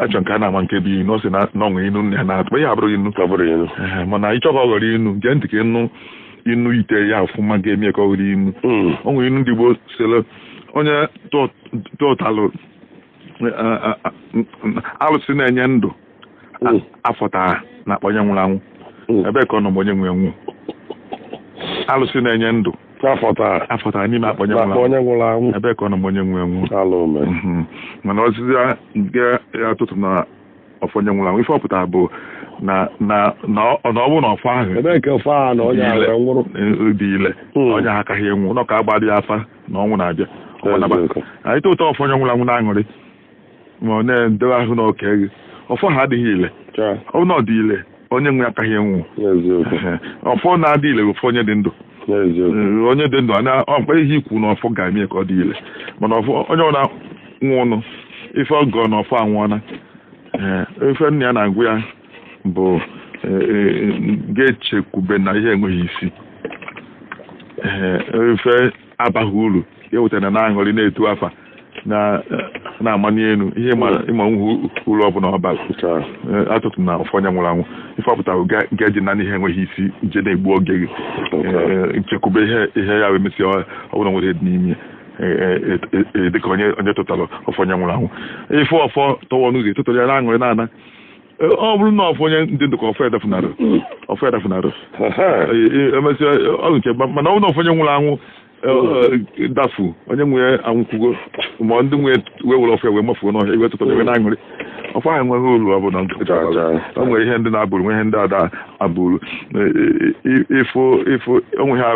achọ nke a na-ama nke bụ inu ọ sị na o nwe inu nna ya na-atụ ya abụrụ inu mana ị chọọ ka ọ ghọrọ inu gee ntị ka ịnụ inu ite ya ọfụma ga-eme ka ọ ghọrọ inu hmm. o nwere inu ndị Igbo sịrị onye tụtalụ alụsị na-enye ndụ mm. afọta n'akpa onye nwụrụ anwụ mm. ebee ka ọ nọ mgbe onye nwe ya nwụ alụsị na-enye ndụ afọtara n'ime akpa onye nwụrụ anwụ ebee ka ọ nọ mgbe onye nwe ya nwụ mm-hmm. mana ozizi nke ya atụtụna ọfọ onye nwụrụ anwụ ife ọ pụtara bụ na na na ọ bụ na ọfọ ahụ ebee ka ọfọ ahụ na onye ahụ nwụrụ dị ile hmm. onye ahụ akaghị anwụ na ọ ka agbadị afa na ọnwụ na-abịa anyị tụtụ ọfọ onye nwụrụ anwụ na-aṅụrị ma ọ na-edebe ahụ na oke gị ọfọ ahụ adịghị ile ọ na ọ dị ile onye nwe ya akaghị anwụ ọfọ na-adị ile bụ ọfọ onye dị ndụ onye dị ndụ ana ọ kwa ihe i kwu na ọfọ ga-eme ka ọ dị ile mana ọfọ onye ọ bụla nwụnụ ife ọ gọ na ọfọ anwụọla ife nna ya na-agwa ya bụ e, e, gị echekwubena ihe enweghị isi ife abaghị uru ya wetara na-aṅụrị na-etu afa na na-amani elu ihe ma ị ma enweghị uru ọ bụla ọ ba atụtụna ọfọ onye nwụrụ anwụ ife ọ pụtara gị ejina ihe enweghị isi je na-egbu oge gị Eh, nchekwube ihe ihe ya wee mesịa ọ- ọ bụla nwere dị n'ime eh, eh, eh, eh, dịka onye onye tụtara ọfọ onye nwụrụ anwụ ị fụ ọfọ tọwọ n'ụzọ gị atụtara ya na-aṅụrị na-ana E, ọ bụrụ na ọfọ onye dị ndụ ka ọfọ ya dafunarị ọfọ ya dafunarị emesịa ọ nke mana ọ bụrụ na ọfọ onye nwụrụ anwụ e, e, dafu onye nwe ya anwụkwugo ma ndị nwe ya wee were ọfọ wee mafuo n'ọhịa i wee tụtara wee na-aṅụrị ọfọ ahụ enweghị uru ọ bụla o nwere ihe ndị na-aba uru nwee ihe ndị ada aba uru ifo ifo onwe ha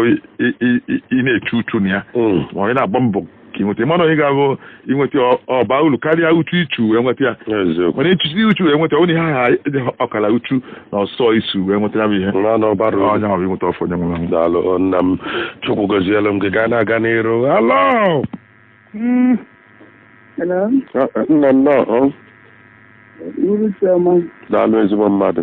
ị na-echu uchu na ya mm. ma ọ na-agba mbọ ka ị nweta ya mana o nwe ihe ga-abụ i nweta ọ- ọ baa uru karịa uchu i chu wee nweta ya eziokwu mana i chusie uchu wee nweta ọ bụ na ihe ahụ dị ọkara uchu na ọsọ ị sụ wee nweta ya bụ ihe na na ọ bara uru. onye ahụ bụ inweta ọfọ onye nwụrụ anwụ daalụ o, nna m chukwu gọzielu m gị ka ị na-aga n'iru alo Mm. Hello, nna nnọọ Uru Chioma. daalụ ezigbo mmadụ